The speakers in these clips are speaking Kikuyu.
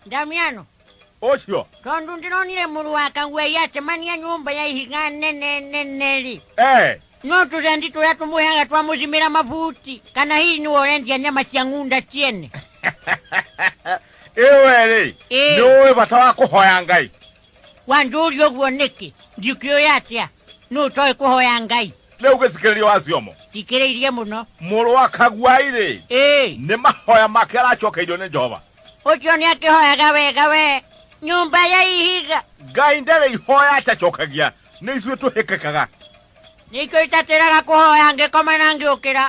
Damiano, Osho. tondu ndinonire muru wa kangwe yatemania nyumba ya ihiga nene neneri Eh. no turendi turia tumuheaga twamuthimira mavuti kana hii ni worendia nyama cia ng'unda ciene Ewe rĩ. Ĩĩ. Nĩ ũĩ bata wa kũhoya Ngai. wanjũria ũguo nĩkĩ ndikĩũĩ atĩa nũ ũtoĩ kũhoya ngai rä u gä cikärä rio waciomo tikĩrä irie mũno må rå wa kaguai rä ĩĩ nä mahoya make aracokeirio nä jehova ũcio nĩ akĩhoyaga wega we nyũmba ya ihiga ngai ndarä ihoya atacokagia nä ithuä tå hä kä kaga nĩkĩo itatĩraga kũhoya ngĩkoma na ngĩũkĩra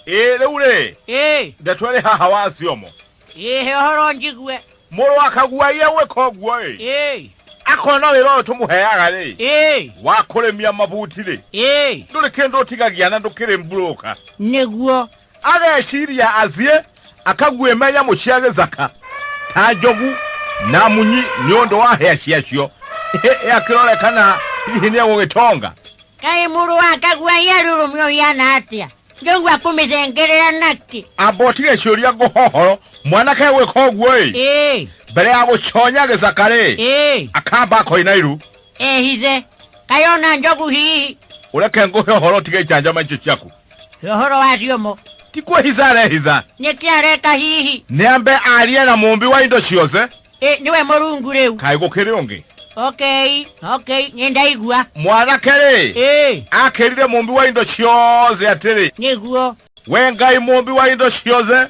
ä rä u rä ĩĩ ndeto ä rä haha waciomo Ĩĩ, he ũhoro njigue. Mũrũ akaguo aiye gwĩka ũguo-ĩ. Ĩĩ. Akona wĩra ũyũ tũmũheaga-rĩ. Ĩĩ. Wa kũrĩmia mabuti-rĩ. Ĩĩ. Ndũrĩ kĩndũ ũtigagia na ndũkĩrĩ mburũka. Nĩguo. Ageciria aciĩ akaguo me nyamũ cia gĩthaka ta njogu na munyi nĩ ũndũ wa hĩa ciacio. Ĩ akĩrore kana hihi nĩ egũgĩtonga. Kaĩ mũrũ wa akaguo aiye arũrũme ũhiana atĩa? ngĩigua kũmĩcengerera naki amba ũtige ciũria ngũhohoro mwanake gwĩka ũguo ĩ ĩĩ mbere ya gũconya gĩcaka rĩ ĩĩ akamba akoina iru ehithe kayona njogu hihi ũreke ngũhe ũhoro ũtige icanjama icio ciaku ũhoro wacio mo ti kwĩhica arehica nĩkĩ areka hihi nĩambe arie na mũmbi wa indo ciothe Ĩ, nĩwe mũrungu rĩu kaĩ gũkĩrĩ ũngĩ okay okay nĩ ndaigua mwanake rĩ ĩ akĩrire mũmbi wa indo ciothe atĩrĩ nĩguo we ngai mũmbi wa indo ciothe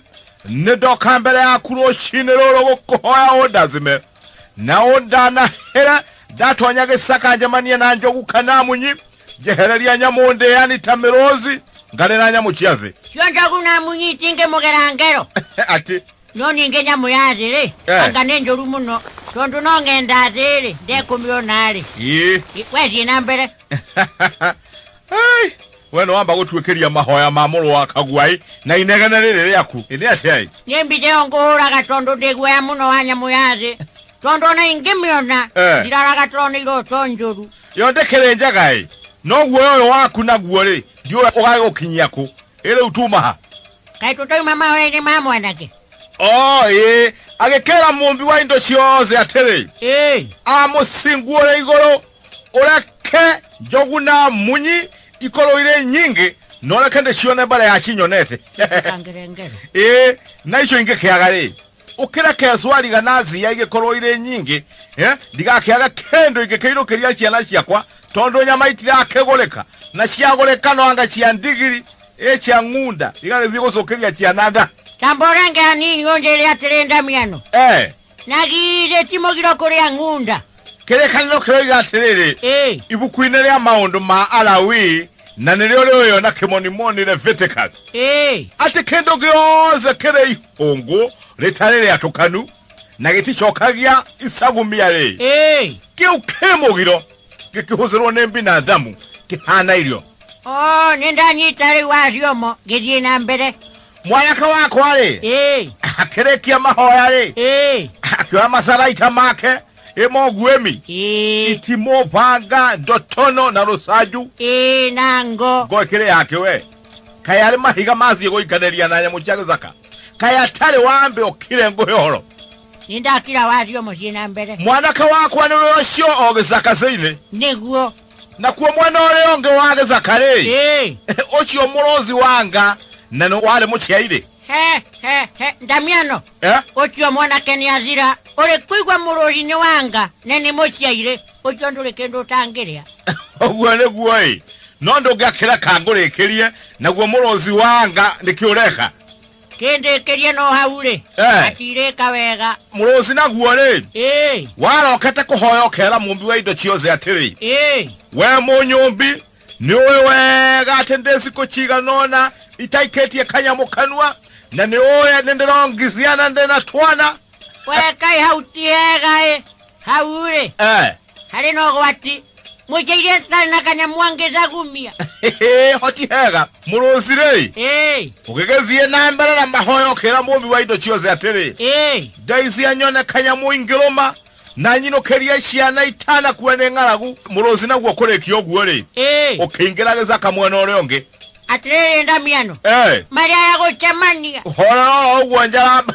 nĩ ndoka mbere yaku rũcinĩ rũrũ gũkũhoya ũndathime na ũndanahĩre ndatonya gĩcaka njemanie na njogu kana munyi njehereria nyamũ ndĩani ta mĩrũthi ngarĩ na nyamũ cia thĩ cionjogu na munyi itingĩmũgera ngero atĩ no ningĩ nyamũ ya thĩ-rĩ Eh. anga nĩ njũru mũno tondũ no ng'enda thĩ-rĩ ndekũmĩona-rĩ ii wethiĩ na mbere Ai, we nä wamba gå tuäkäria mahoya ma må rå wa kaguai na inegene rä rä rä aku ä nä atä ai nĩ mbica ĩyo ngũhũraga tondũ ndĩ guoya mũno wa nyamũ ya thĩ tondũ ona ingĩmĩona Eh. ndiraraga tondũ nĩ iroto njũru yo ndä kä rä njega ä no guoya å yå waku naguo rä ndiå å gagä gå kinyia kå ä rä u tumaha kaĩ tũtoima mama wene ma mwanake o ĩ agĩkĩra mũmbi wa indo ciothe atĩrĩ ĩĩ amũcinguũre igũrũ ũreke njogu na munyi ikorwo irĩ nyingĩ noreke ndĩcione mbere ya cinyonete kangere ngere ĩ na icio ingĩkĩaga rĩ ũkĩreke cwariga na cia igĩkorwo irĩ nyingĩ eh, ndigakĩaga kĩndũ ingĩkĩirũkĩria ciana ciakwa tondũ nyama itirakĩgũrĩka na ciagũrĩka no anga cia ndigiri ĩ cia ng'unda igagĩthiĩ gũcũkĩria ciana nda Ta mborenge hanini ũnjĩre atĩrĩ Ndamiano, eh, na githĩ ti mũgiro kũrĩa ng'unda? kĩrĩkanĩro kĩroiga atĩrĩrĩ Ĩĩ. ibuku-inĩ rĩa maũndũ ma alawi na nĩrĩo rĩoyo na kĩmonimoni leviticus Ĩĩ. atĩ kĩndũ gĩothe kĩrĩ ihũngũ rĩtarĩ rĩatũkanu na gĩticokagia icagumia rĩ Ĩĩ. kĩu kĩ mũgiro gĩkĩhũthĩrwo nĩ binadamu kĩhana irio O nĩ ndanyita rĩu acio mo ngĩthiĩ na mbere. mwayaka wakwa-rĩ ĩĩ akĩrĩkia mahoya-rĩ ĩĩ akĩoya macaraita make ĩmo nguĩmi ĩĩ itimũ banga ndotono na rũcanju ĩĩ na ngo ngo ĩkĩrĩ yake we kaĩ arĩ mahiga mathiĩ gũikanĩria na nyamũ cia gĩthaka kaĩ atarĩ wambe ũkire ngũhe ũhoro nĩ ndakira wario mũciĩ na mbere mwanake wakwa nĩwe ũcio o gĩcaka-inĩ nĩguo nakuo mwena ũrĩa ũngĩ wa gĩcakarĩ Ĩĩ. ũcio mũrũthi wanga na nĩ warĩ mũciairĩ He, he, he, ndamiano Eh? ũcio mwanake nĩ athira ũrĩ kũigua mũrũri nĩ wanga na nĩ mũciairĩ ũcio ndũrĩ kĩndũ ũtangĩrĩa ũguo nĩguo ĩ no ndũngĩakĩreka ngũrĩkĩrie naguo mũrũthi wanga nĩkĩ ũreka Kĩndĩkĩrie no hau-rĩ, Eh. atirĩka wega. Mũrũci naguo-rĩ, Ĩĩ, warokete kũhoya ũkera mũmbi wa indo ciothe atĩrĩ ĩĩ, we mũnyũmbi nĩ ũĩ wega atĩ ndĩ cikũ cigana ũna itaikĩtie kanyamũ kanua na nĩ ũĩ nĩ ndĩrongithia na ndĩ na twana we kaĩ hau ti hega-ĩ. Hau-rĩ, eh, harĩ na ũgwati mũikirie citarĩ na kanyamũ angĩca kumia hoti hega mũrũcirĩ ĩĩ ũgĩgĩthiĩ na mbere na mahoya ũkĩra mũmbi wa indo ciothe atĩrĩ ĩĩ ndeithia nyone kanyamũ ingĩrũma na nyinũkĩrie ciana itanakuwa nĩ ng'aragu mũrũci naguo kũrĩkia ũguo-rĩ ĩĩ ũkĩingĩra gĩcaka mwena ũrĩa ũngĩ atĩrĩrĩ ndamiano Eh, marĩa ya gũcemania horera o ũguo njaramba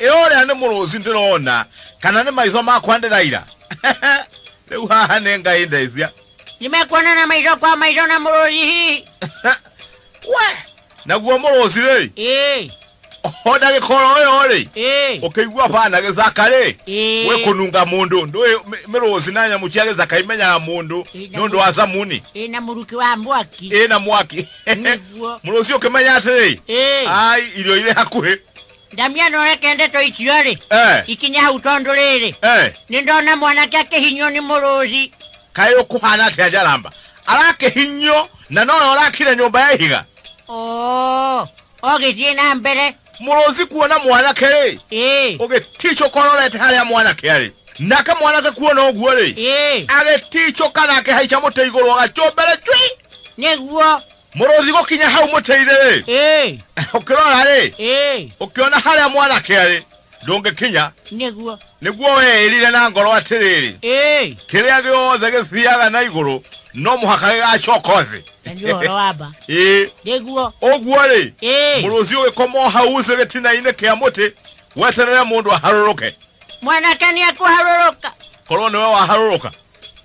Ĩ ũrĩa nĩ mũrũci ndĩrona kana nĩ maitho makwa ndĩraira? Rĩu haha nĩ ngai ndecia. Nĩmekuonana maitho kwa maitho na mũrũci hihi? We, naguo mũrũci rĩ, Ĩĩ, o ndagĩkorwo ũyũ rĩ, ĩĩ, ũkĩigua bana gĩcaka rĩ, Ĩĩ. gwĩ kũnunga mũndũ ndũĩ mĩ- mĩrũci na nyamũ cia gĩcaka imenyaga mũndũ Ĩĩ, nĩ ũndũ wa camuni ĩĩ na mũrukĩ wa mwaki. ĩna mwaki Nĩguo. mũrũci ũkĩmenya atĩrĩ Ĩĩ. ai irio irĩ hakuhĩ ndamia no reke ndeto icio rĩ Eh, ikinye hau tondũ rĩrĩ eh. nĩ ndona mwanake akĩhinywo nĩ mũrũthi kaĩ ũkũhana atĩa njaramba arakĩhinyio na nowe ũrakire nyũmba ya ihiga oo ogĩthiĩ na mbere mũrũci kuona mwanake rĩ ĩĩ ũgĩticũka ũrorete harĩa mwanake arĩ nake mwanake kuona ũguo rĩ ĩĩ agĩticũka na akĩhaica mũtĩ igũrũ agacũmbere cwi nĩguo mũrũthi gũkinya hau mũtĩ-inĩ-rĩ Ĩĩ, ũkĩrora-rĩ ĩĩ, ũkĩona harĩa mwanake arĩ ndũngĩkinya nĩguo. nĩguo weĩrire na ngoro atĩrĩrĩ Ĩĩ, kĩrĩa gĩothe gĩthiaga na igũrũ no mũhaka gĩgacoka thĩ na nĩ ũhoro wa mba. ĩĩ Nĩguo. ũguo-rĩ Ĩĩ, mũrũthi ũgĩkoma o hau ucĩ gĩtina-inĩ kĩa mũtĩ weterere mũndũ aharũrũke mwanake nĩ ekũharũrũka. korwo nĩwe waharũrũka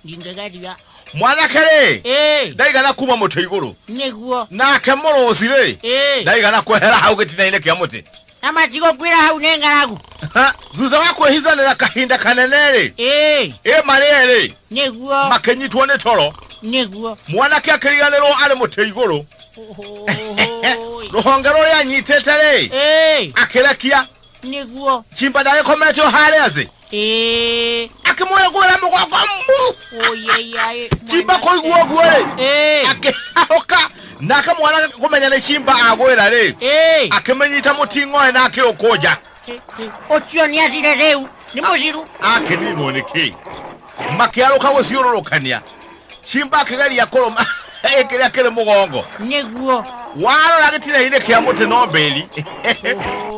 ndingĩgeria mwanake rĩ Ĩĩ. ndaigana kuma mũtĩ igũrũ nĩguo nake mũrũci rĩ Ĩĩ. ndaigana kwehera hau gĩtina-inĩ kĩa mũtĩ na matigũkwĩra hau nĩ ng'aragu Ha, thutha wa kwĩhithanĩra kahinda kanene rĩ Ĩĩ. ĩ marĩe rĩ nĩguo makĩnyitwo nĩ toro nĩguo mwanake akĩriganĩrwo arĩ mũtĩ igũrũ Ũhũũĩ. rũhonge rũrĩa anyitĩte rĩ Ĩĩ. akĩrekia nĩguo chimba ndagĩkomete o harĩa thĩ Ĩĩ, akĩmũrĩ kũrĩa mũgongo mbu ũyeyai. chimba kũigua ũguo rĩ Ĩĩ, akĩhahũka nake mwana kũmenya nĩ chimba agwĩra rĩ ĩĩ. akĩmĩnyita mũting'oe na akĩũkũnja Ũcio nĩ athire rĩu. Nĩ mũciru. akĩninwo nĩ kĩi makĩarũka gũciũrũrũkania Simba akĩgeria kũrũma ĩ kĩrĩa kĩrĩ mũgongo nĩguo warora gĩtina-inĩ kĩa mũtĩ no mbĩri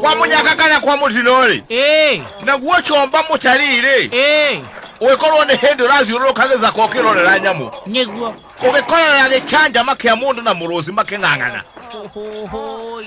kwa mũnyaka kana kwa mũtino-rĩ ĩĩ naguo comba mũtari-rĩ ĩĩ ũgĩkorwo nĩ hĩndĩ ũrathiũrũrũka gĩthaka ũkĩrorera nyamũ nĩguo ũgĩkorora gĩcanjama kĩa mũndũ na mũrũthi makĩng'ang'ana Ũhũhũi.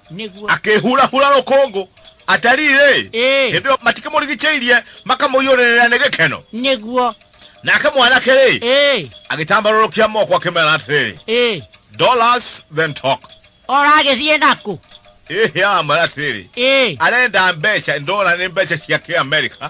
nĩguo akĩhurahura rũkũngũ atariĩ-rĩ Ĩĩ. hĩndĩ ĩyo matikĩmũrigicĩirie makamũiyũrĩrĩra nĩ gĩkeno nĩguo nake mwanake-rĩ ĩĩ agĩtambarũrũkia moko akĩmera atĩrĩrĩ ĩĩ dollars then talk oragĩthiĩ nakũ ĩhĩ aramwĩra atĩrĩrĩ ĩĩ arenda mbeca ndora nĩ mbeca cia kĩamerika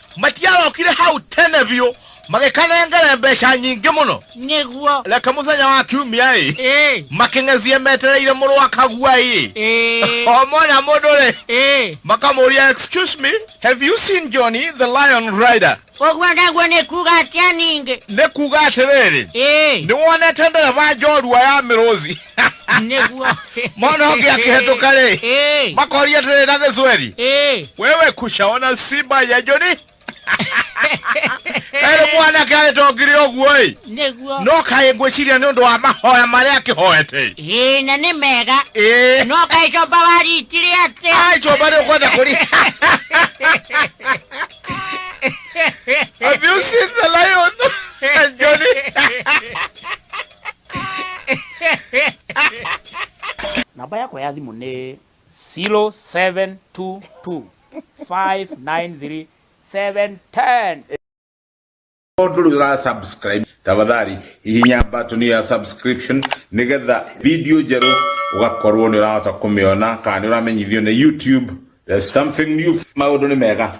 matiarokire hau tene biũ magĩkanengere mbeca nyingĩ mũno nĩguo reke mũthenya wa kiumia ĩ ĩ makĩng'ezie metereire mũrũ wa kagua ĩ ĩ o mwana mũndũ rĩ ĩ makamũria excuse me have you seen johnny the lion rider ũguo naguo nĩ kuga atĩa ningĩ nĩ kuga atĩrĩrĩ ĩ nĩ wonete ndereba njorua ya mĩrũthi nĩguo mwana ũngĩ akĩhetũka rĩ Ĩĩ, makoria atĩrĩ na gĩcweri ĩĩ. wewe kushaona simba ya joni kaĩrĩ mwanake agĩtongire ũguo ĩ nĩguo no kaĩ ngwĩciria nĩ ũndũ wa mahoya marĩa akĩhoete Ĩĩ, na nĩ mega ĩĩ no kaĩ comba waritire atĩ ai comba nĩ ũkwenda kũri Have you seen the lion? Johnny? namba yakwa ya thimũ nĩ 0722 593 710 Ondo nduri ura subscribe tafadhali hihinya button ya subscription nigetha video njeru ugakorwo ni urahota kumiona kana ni uramenyithio ni YouTube there's something new maundu ni mega